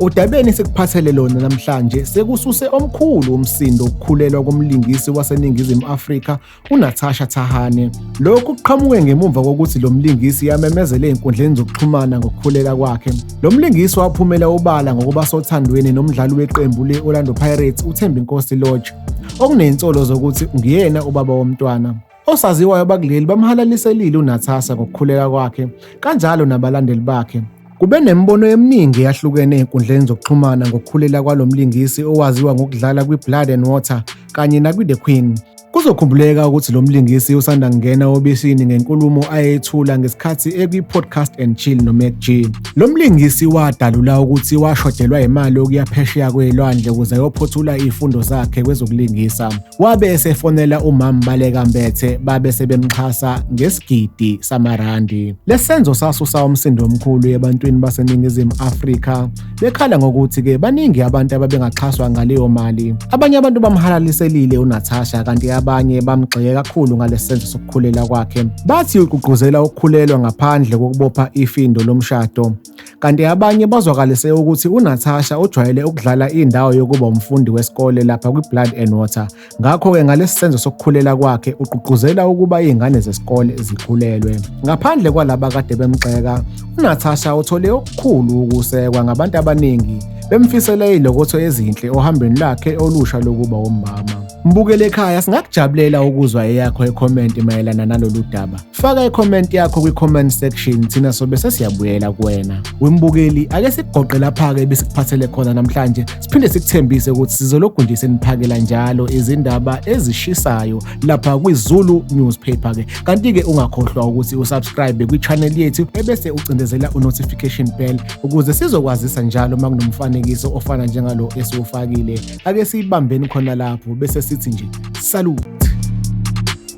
Udabeni sikuphathele lona namhlanje sekususe omkhulu umsindo ukukhulelwa komlingisi waseNingizimu Afrika uNatasha Thahane. Lokhu kuqhamuke ngemumva kokuthi lo mlingisi yamemezele ezinkundleni zokuxhumana ngokukhulela kwakhe. Lo mlingisi waphumela obala ngokuba sothandweni nomdlali weqembu le-Orlando Pirates uThembinkosi Lorch okuney'nsolo zokuthi nguyena ubaba womntwana. Osaziwayo bakuleli bamhalaliselile uNathasa ngokukhuleka kwakhe kanjalo nabalandeli bakhe. Kube nemibono eminingi eyahlukene ezinkundleni zokuxhumana ngokukhulela kwalo mlingisi owaziwa ngokudlala kwi-Blood and Water kanye nakwi-The Queen. Kuzokhumbuleka ukuthi lo mlingisi usanda kungena obisini ngenkulumo ayethula ngesikhathi ekwi-podcast and chill nomac g lo mlingisi wadalula ukuthi washodelwa imali okuya phesheya kwelwandle ukuze ayophothula izifundo zakhe kwezokulingisa Wabe esefonela umama Baleka Mbethe babe sebemxhasa ngesigidi samarandi. Lesenzo sasusa umsindo omkhulu ebantwini baseNingizimu Afrika bekhala ngokuthi ke baningi abantu ababengaxhaswa ngaleyo mali. Abanye abantu bamhalaliselile uNatasha kanti abanye bamgxeke kakhulu ngalesenzo sokukhulela kwakhe. Bathi ugqugquzela ukukhulelwa ngaphandle kokubopha ifindo lomshado. Kanti abanye bazwakalise ukuthi uNatasha ujwayele ukudlala indawo yokuba umfundi wesikole lapha kwi-Blood and Water. Ngakho-ke ngalesi senzo sokukhulela kwakhe ugqugquzela ukuba izingane zesikole zikhulelwe. Ngaphandle kwalaba kade bemgxeka, uNatasha uthole okukhulu ukusekwa ngabantu abaningi bemfisela izilokotho ezinhle ohambeni lakhe olusha lokuba womama. Mbukele ekhaya singakujabulela ukuzwa eyakho ekhomenti mayelana nalolu daba. Faka i-comment yakho kwi-comment section thina sobe sesiyabuyela kuwena. Wembukeli ake sikugoqe lapha-ke besikuphathele khona namhlanje siphinde sikuthembise ukuthi sizolokhu nje seniphakela njalo izindaba ezishisayo lapha kwiZulu newspaper-ke. Kanti-ke ungakhohlwa ukuthi usubscribe kwi-channel yethu ebese ucindezela u-notification bell ukuze sizokwazisa njalo uma kunomfanekiso ofana njengalo esiwufakile. Ake siyibambeni khona lapho bese sithi nje salute.